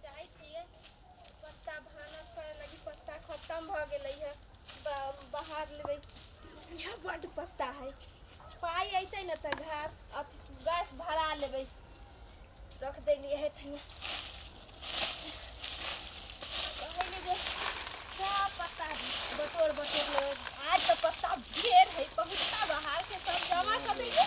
जाइ छियै पत्ता भानस करे लगी पत्ता खत्म भ गेलै है ब- बाहर लेबै यहाँ बड पत्ता है पाई अइतै न त घास अथी गैस भरा लेबै रख देलिए है थैया कहली जे सब पत्ता बटोर बटोर लेबै आज त पत्ता ढेर है पहुँचता बाहर के सब जमा कर देलिए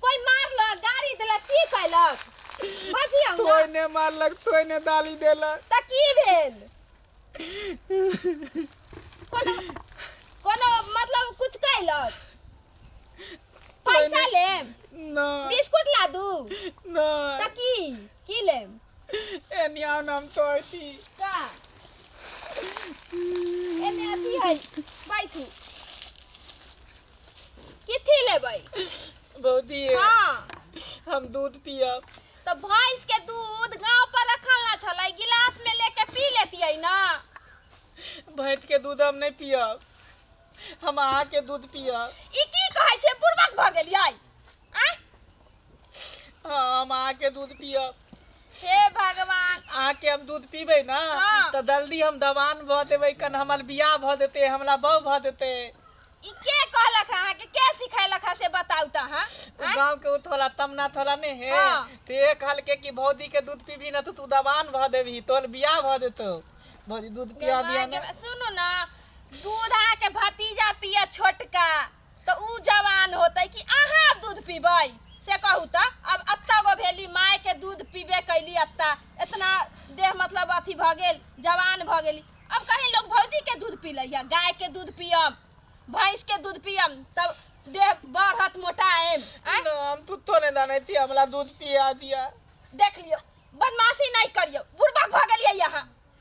कोई मारलक गाड़ी देलक की कैलक बजियौ ने तोय ने मारलक तोय ने दाली देलक तऽ की भेल कोनो कोनो मतलब कुछ कैलक पैसा लेम ना बिस्कुट ला दू ना तऽ की की लेम एनी आओ नाम तो ऐसी का एने अथी है बैठू किथी लेबै भौजी हाँ हम दूध पियब तो भैंस के दूध गांव पर रखल ना छलै गिलास में लेके पी लेतियै ना भैंस के दूध हम नहीं पियब हम अहाँ के दूध पियब ई की कहै छै बुड़बक भऽ गेलियै आँय? हाँ, हम अहाँ के दूध पियब हे भगवान अहाँ के हम दूध पीबे ना हाँ। तो जल्दी हम दवान भ देबे कन हमर बियाह भ देते हमरा बहू भ देते ई के कहलक है अहाँके के सिखैलक है से बताउ तऽ अहाँ उ आँय? गांव के उ थोड़ा तमना थोड़ा ने है हाँ। ते ये कहल के कि भौजी के दूध पीबी ना तो तू दवान भ देबी तोर बियाह भ देतो भौजी दूध पिया दिया भगवान ना के- सुनू ना दूध अहाँके भतीजा पिया छोटका त ऊ जवान होतै कि अहाँ अब दूध पीबै से कहू त अब अत्ता गो भेली माय के दूध पीबे कैली अत्ता इतना देह मतलब अथी भ गेल जवान भ गेली अब कहीं लोग भौजी के दूध पी लैया गाय के दूध पियम भैंस के दूध पियम तब देह बढ़त मोटाएम आँय? ना हम तुत्तो नहीं दाने थी हमला दूध पिया दिया देख लियो बदमाशी नहीं करियो बुढ़बक भ गेलियै यहाँ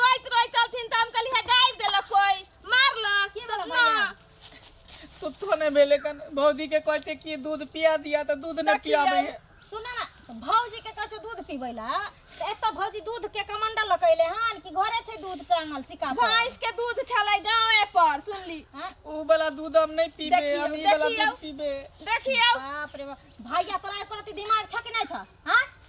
रोइत रोइत चलथिन त हम कहली है गाइब देलक कोई मारलक ई बस ना सुतो ने भेले कन भौजी के कहै छै कि दूध पिया दिया त दूध ने पियाबे है सुना ना भौजी के कछु दूध पीबै ला त एतऽ भौजी दूध के कमंडल लकैले हन कि घरे छै दूध टांगल सिका पर भैंस के दूध छलै गांवे पर सुनली हाँ? ऊ वाला दूध हम नहीं पीबे देखियौ, हम ई वाला देखियौ। दूध पीबे देखियौ बाप रे बाप भैया तोरा एको रति दिमाग छ कि नै छ हां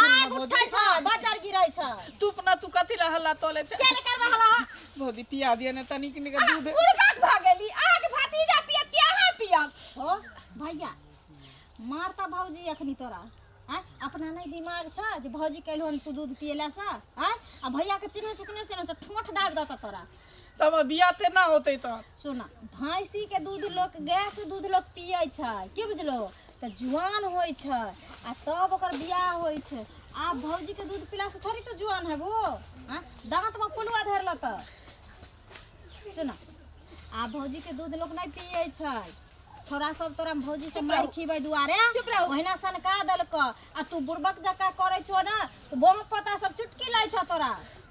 आय उठै छै बाजार गिरै छै तू अपना तू कथी ला हल्ला तोले ते केले करबा हला भौजी पिया दिए ने तनिक निक दूध उड़बाक भ गेली आहा के भतीजा पियत कि आहा पियत हो भैया मारता भौजी अखनी तोरा आय अपना नहीं दिमाग छ जे भौजी कहलो हम तू दूध पियला सा आय आ भैया के चिन्ह चुकने चिन्ह छ ठोठ दाब देता तोरा तऽ हमर बियाह तेना होतै तऽ सुना भैंसी के दूध लोक गाय के दूध लोक पियै छै की बुझलो तऽ जुआन होइ छै आ तब ओकर बियाह होइ छै आब भौजी के दूध पिला से थोड़ी तो जुआन हेबो हाँ? दांत में पुलुआ धर लत सुना आ भौजी के दूध लोक नहीं पियै छै छोरा सब तोरा हम भौजी से मार खीबै दुआरे चुप रहो ओहिना सनका देलक आ तू बुड़बक जका करै छो ना तो बम पता सब चुटकी लै छो तोरा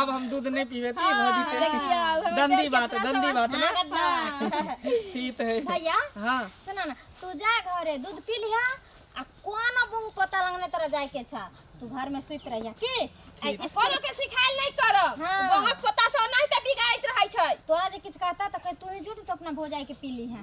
आब हम दूध नहीं पीबे ती हाँ, भौजी के हाँ, दंदी बात दंदी बात ना हाँ, ठीक है भैया हां सुना ना तू जा घरे दूध पी लिया आ कोना बहु पता लगने तरह जाए के छ तू घर में सुत रहिया के कोनो के सिखाइल नहीं करो हाँ। बहुत पता से नहीं त बिगाइत रहै छै तोरा जे किछ कहता त कह तू ही झूठ तो अपना भौजाई के पी ली है